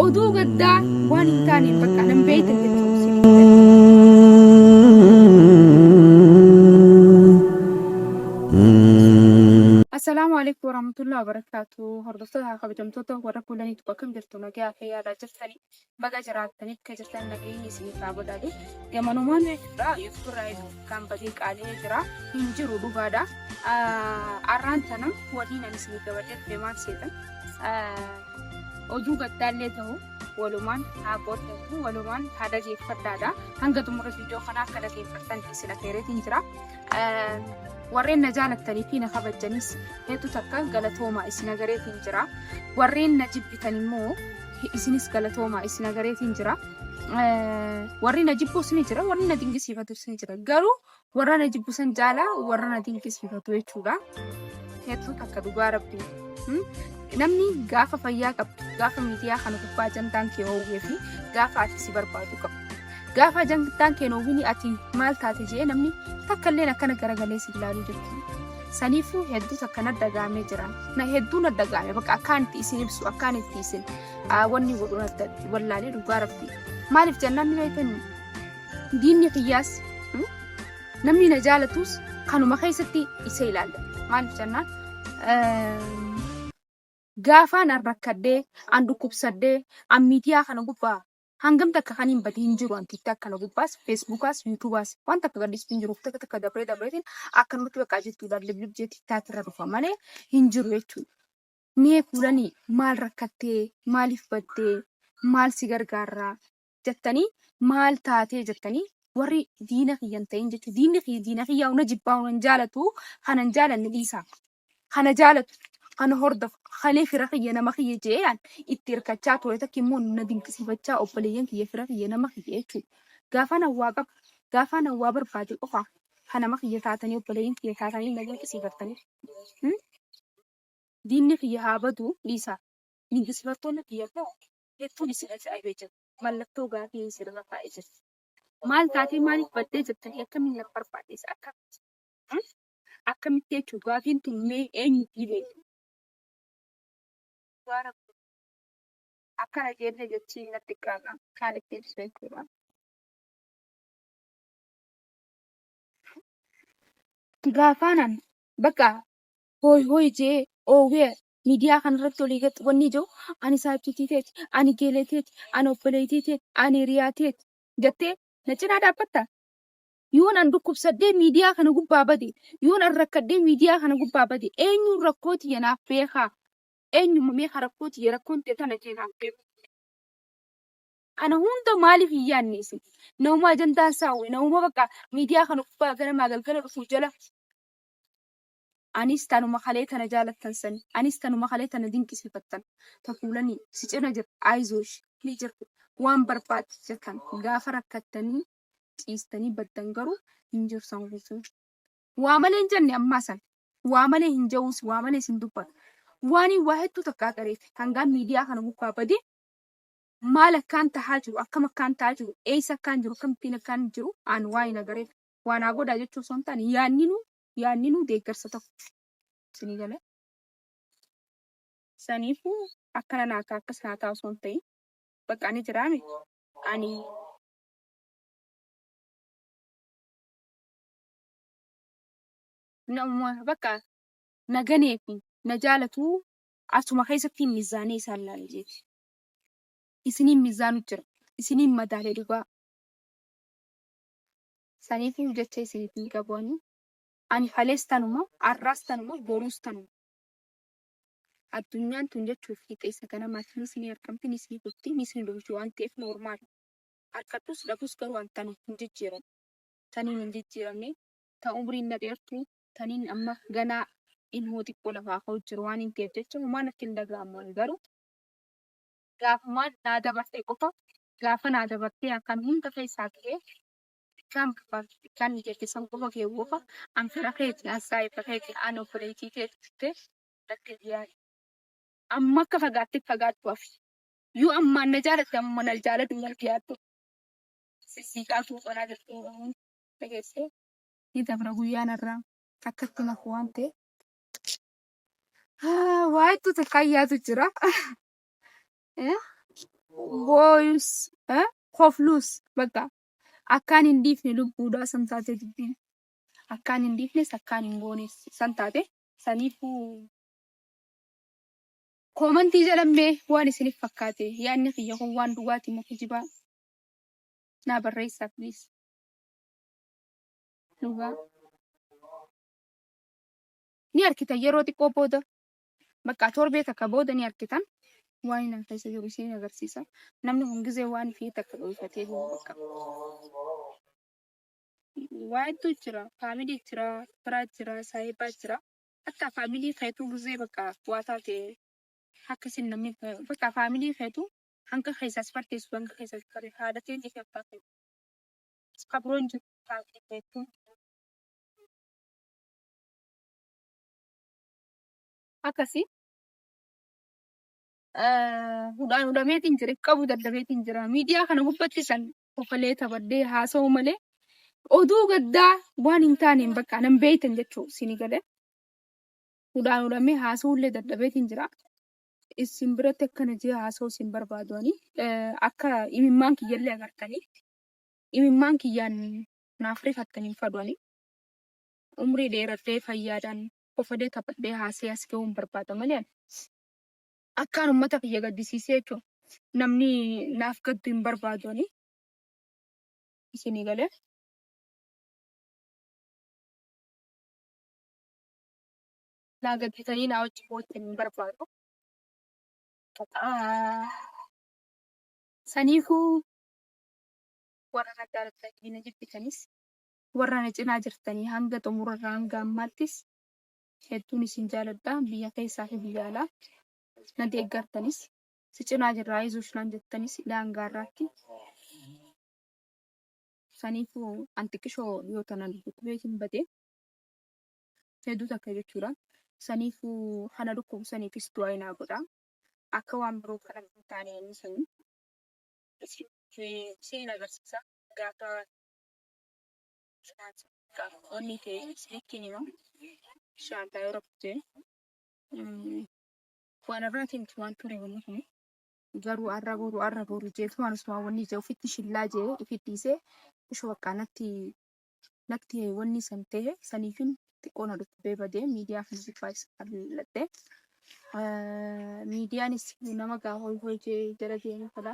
Oduu gaddaa waan hin taaneen bakka nan beekne jechuun si Assalaamu alaikum warahmatullahi wabarakatuh. Hordoftoota kabajamtoota warra kuulaniitu bakka hin jirtu nagaa fi yaadaa jirtanii baga jiraattanii akka jirtan nageenyi isiniif haa godhatu. Gamanumaan irraa yuutuubarraa kan badee qaalee jira hin jiru dhugaadha. Arraan tana waliin ani isiniif gabateef deemaan seetan. Oduu gattaallee ta'u walumaan haa qooddatu walumaan haa dhageeffadhaadha. Hanga xumura viidiyoo kanaa akka dhageeffattan isin affeereetiin jira. Warreen na jaalattanii fi na kabajanis hedduu takka galatoomaa isin agareetiin jira. Warreen na jibbitan immoo isinis galatoomaa isin agareetiin jira. Warri na jibbus ni jira, warri na dinqisiifatus ni jira. Garuu Warra na jibbu san caalaa warra na dinqisiifatu jechuudha. Hedduu takka dhugaa rabbi. Namni gaafa fayyaa qabdu, gaafa miidiyaa kana gubbaa jantaan kee hoowwee fi gaafa ati si barbaadu qabdu. Gaafa jantaan kee hoowwini ati maal taate jee namni takka illee akkana garagalee si ilaaluu jirtu. Saniifuu hedduu takka na dhagaamee jira. Na hedduu na dhagaame bakka akkaan itti isin ibsu akkaan itti isin wanni godhu na wallaalee dhugaa rabbi. Maaliif jennaan ni beekanii? Diinni kiyyaas mm, namni na jaalatus kanuma keessatti isa ilaalla. Maaliif jennaan ehm, gaafaan an rakkadhee, an dhukkubsadhee, an miidiyaa kana gubbaa hangam takka kan hin badin hin jiru an tiktak kana gubbaas, feesbuukaas, yuutuubaas waan takka gadhiistu hin jiru takka takka dabree dabreetiin akkanumatti bakka jirtu lallibib jee tiktak irra dhufa malee hin jiru jechuudha. Mee kuulanii maal rakkattee, maaliif baddee, maal si gargaarraa, jettanii maal taatee jettanii warri diina kiyya hin ta'in jechuun diinni kiyya diina kiyya huna jibbaa huna hin jaalatu kanan jaalanne dhiisaa kana jaalatu kana hordofu kana fira kiyya nama kiyya jeeyaan itti hirkachaa ture takki immoo na dinqisiifachaa obboleeyyan kiyya fira kiyya nama kiyya jechuudha. Gaafa nan waa qabu gaafa nan waa barbaade qofa kan nama kiyya taatanii obboleeyyan kiyya taatanii na dinqisiifattanii hmm? diinni kiyya haa badu dhiisaa dinqisiifattoonni kiyya immoo Hedduun isin ajaa'ibee jira. Mallattoo gaafii isin irra kaa'ee jira. Maal taatee maaliif baddee jettanii akkamiin na barbaaddeessa akkamitti? Akkamitti jechuun gaafiin tun mee eenyu dhiibee? Dhugaa rabbi akkana jeellee jechiin natti qaama kaan itti ibsu jechuudha. Itti gaafaanan bakka hooy hooy jee oowwee miidiyaa kanarratti olii gad wanni jiru ani saajjitii teeti, ani geelee teeti, ani obboleettii teeti, ani hiriyaa teeti jettee na cinaa dhaabbatta? Yoon an dhukkubsadhee miidiyaa kana gubbaa bade, yoon an rakkadhee miidiyaa kana gubbaa bade, eenyuun rakkoo tiyya naaf beekaa? Eenyumma mee ka rakkoo tiyya rakkoon tiyya tana jee naaf beeku? Kana hunda maaliif hin yaadne isin? Namuma ajandaan isaa uwe, namuma bakka miidiyaa kana gubbaa ganamaa galgala dhufu jala Anis tanuma kalee tana jaalattan sani. Anis tanuma kalee tana dinqisiifattan. Ta fuulani si cina jirtu ayizooshi ni jirti. Waan barbaadde jettan. Gaafa rakkattanii ciistanii baddan garuu hin jirtan guutuu. Waa malee hin jenne ammaa san. Waa malee hin ja'uus waa malees hin dubbatu. Waaniin waa hedduu takka agareef hangaan miidiyaa kana gubbaa bade maal akkaan tahaa jiru akkam akkaan tahaa jiru eeysa akkaan jiru akkamittiin akkaan jiru aan waaniin agareef waa naa godhaa jechuu osoo hin taane yaanninuu yaadninuu deeggarsa tokko. Isinii galee? Saniifuu akkana naa ta'a akkas naa ta'a osoo hin ta'in bakka ani jiraa miti ani nama bakka na ganee fi na jaalatu asuma keessatti mizaanee isaan laale jeeti. Isiniin mizaanu jira. Isiniin madaalee dhugaa. Saniifiyu jecha isiniif hin qabu ani. Ani kalees tanuma, arraas tanuma, boruus tanuma. Addunyaan tun jechuuf hixeessa ganamaati. Nis ni argamti, nis ni kufti, nis ni dhumti waan ta'eef noormaali. Arkadhus dhabus garuu an tana hin jijjiiran. Taniin hin jijjiiramne, ta umriin na dheertu, taniin amma ganaa ilmoo xiqqoo lafaa ka'u jiru waan hin ta'eef jecha homaa natti hin dhaga'amu ani garuu gaafumaan naa dabartee qofa gaafa naa dabartee akkan hunda keessaa ta'ee Bikkaan barbaachi bikkaan ni jette san qofa kee wofa an fira keeti an saahiba keeti an obboleeytii teeti jettee natti hin yaadi. Amma akka fagaatte fagaadhu hafi. Yoo ammaan na jaalatte ammuma na jaaladhu wal giyaadhu. Sissiiqaa tuu qonaa jirtu Oromoon dhageessee. Ni dabra guyyaan har'aa akkatti naf waan ta'e. Haa, Waa hedduu takkaan yaadu jira. eh, booyus eh, kofluus bakka akkaan hin dhiifne lubbuudhaa san taate dubbiin akkaan hin dhiifnes akkaan hin goones san taate saniifuu koomantii jedhammee waan isiniif fakkaate yaadni kiyya kun waan dhugaatii moo kijibaa naa barreessaa please dhugaa ni argitan yeroo xiqqoo booda Bakka torbee takka booda ni arkitan waan inni keessa jiru isiin agarsiisa. Namni kun gizee waan fi takka dhoyfatee jiru bakka. Waa hedduu jira. Faamilii jira, firaa jira, saahibaa jira. Akka faamilii keetuu gizee bakka waa taate akka isin namni bakka faamilii keetuu hanga keessa si farteessu hanga keessa si farteessu haadha ta'e ni abbaa ta'e. Kabroon jiru faamilii keetuu. akkasi hudhaan hudhameetiin jira qabu dadhabeetiin jira miidiyaa kana gubbatti san kofalee taphadhee haasa'u malee oduu gaddaa waan hin taaneen bakka nan beeytan jechuu sini gale hudhaan hudhamee haasa'ullee dadhabeetiin jira isin biratti akkana jee haasa'u isin barbaaduanii akka imimmaan kiyyallee agartanii imimmaan kiyyaan naaf rifattaniin faduanii umrii dheeradhee fayyaadhaan kofadee taphadhee haasee as gahuun barbaada malee ani. Akkaan ummata kiyya gaddisiisee jechuun namni naaf gaddu hin barbaadu ani. Isinii galee. Naa gadditanii naa wajji boottan hin barbaadu. Saniifuu warra gaddaa dhuftan na jibbitanis Warra na cinaa jirtanii hanga xumura irraa hanga ammaattis hedduun isin jaaladha. Biyya keessaa fi biyya alaa na deeggartanis si cinaa jirra ayzosh naan jettanis ilaa hanga har'aatti saniifu an xiqqishoo yoo tanan dhukkubeetiin bade hedduu takka jechuudha. Saniifu kana dhukkubu saniifis du'aa inaa godha. Akka waan biroo kana hin taane inni sanii isin isin agarsiisa gaafa Onni kee isinitti hima. Inshaallah yoo rabbi ta'e. Waan irraati miti waan ture wanni kun. Garuu arra boru arra boru jeetu waan osuma wanni jee ofitti shillaa jee ofitti dhiisee osoo baqqaa natti natti wanni san ta'e saniifin xiqqoo na dhukkubee badee miidiyaa kana gubbaa isa kalladhe. Miidiyaanis nama gaa hoy hoy jee jala deemu fedha.